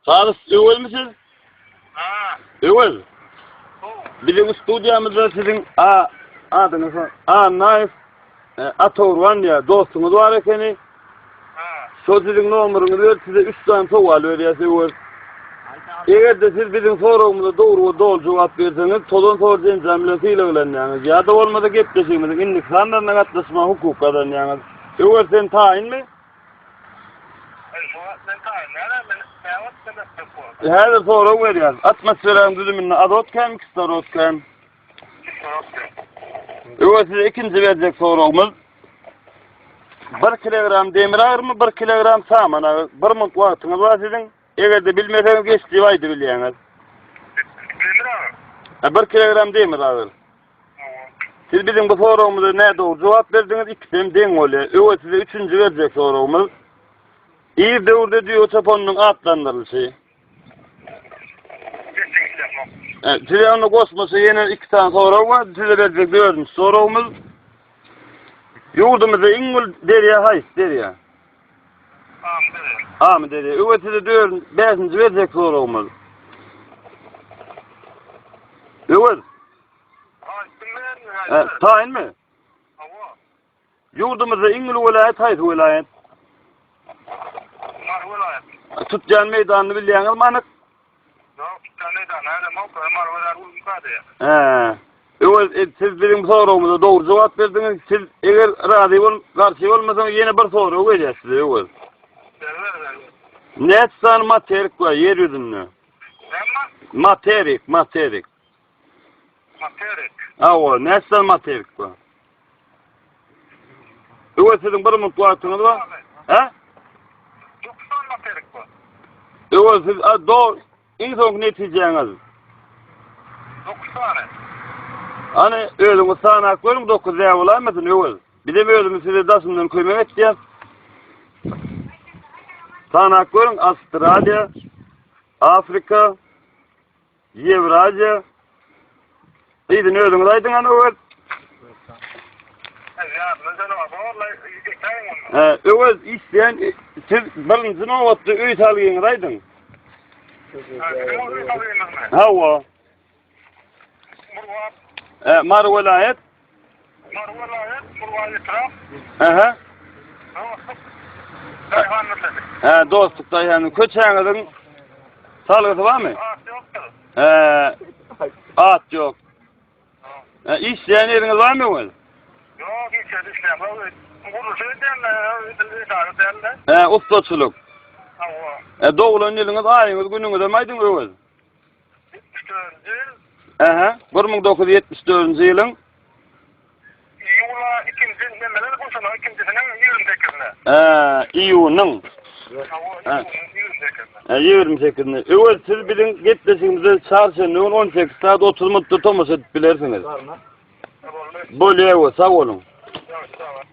Sazyş öwelmi siz? Ha. Öwel. Biziň studiýamyzda siziň a adyňyz Annaýew e, Atogurban diýä dostuňyz bar ekeni. Ha. Şol siziň nomeryňyzy berip size 3 sany sowal berýäs öwel. Eger de siz biziň soragymyza dogry we doly jogap berseňiz, tozan sor jenjam bilen sylaglanýaňyz. Ýa-da bolmasa gepleşigimiziň indiki sanlaryna gatnaşma hukuky gazanýaňyz. Öwel sen taýynmy? Häzir sorag berýärin. Atmosferanyň düzüminde azot kän, kislorod kän? Kislorod kän. Öňe size ikinji berjek soragymyz. 1 kilogram demir agyrymy, 1 kilogram saman agyr. 1 minut wagtyňyz bar siziň. Eger-de bilmeseňiz geçdi aýdyp bilýäňiz. Demir agyr. 1 kilogram demir agyr. Siz biziň bu soragymyza nädogry jogap berdiňiz, ikisi hem deň bolýar. Öwez size üçünji berjek soragymyz. Ir döwürde düýe çopanynyň atlandyrylyşy. Size onda goşmaça ýene iki sany sorag bar. Size berjek dördünji soragymyz. Ýurdumyzda iň uly derýa haýsy derýa? Amy derýa. Öwez size dördünji, bäşinji berjek soragymyz. Öwez. Hä, taýynmy? Hawa. Ýurdumyzda iň uly welaýat haýsy welaýat? Mary welaýat. Tutýan meýdanyny bilýäňizmi anyk? Ýok, tutýan meýdany nädem ýok, Mary welaýat uly kady. Hä. Öwez e, siz biziň soragymyza dogry jogap berdiňiz. Siz eger razy bol, garşy bolmasaňyz ýene bir sorag berýär size öwez. Näçe sany materik bar ýer ýüzünde? Näme? Materik, materik. Materik. Awa, näçe materik bu? Bu siziň bir minut wagtyňyz bar. He? Doksan materik bu. Ewa siz a do iň soňky netijäňiz. Doksan. Ani özüňiz sanap görüň dokuz ýa bolamydyň öwez. Bize özümiz size daşyndan kömek etýäs. Sanap görüň Astraliýa, Afrika, Ýewraziýa Yzyny özüňiz aýdyň an Öwez. He, Öwez isleýän siz birinji nobatda öý salgyňyzy aýdyň. Hawa. He, Mary welaýat. Aha. Ha, dostluk daýhanyň köçäňiziň salgysy barmy? He. At ýok. Ha, işleýän ýeriňiz barmy ol? Ýok, hiç ýerde işleýän. Gurluşy edýän, edara edýän. He, ustaçylyk. Hawa. E, doglan ýylyňyz, aýyňyz, günüňiz hem aýdyň öwez. 74-nji ýyl. Ähä, 1974-nji ýylyň. Iýula ikinji nemeler guşuna, ikinjisiniň ýigrimi sekizine. Ää, iýunyň. Hawa, iýunyň ýigrimi sekizine. Ä, ýigrimi sekizine. Öwez, siz biziň gepleşigimize çarşenbe güni on sekiz sagat otuz minutda tomaşa edip bilersiňiz. Boldy. Bolýa, öwez, sag boluň. Ýa, sag bol.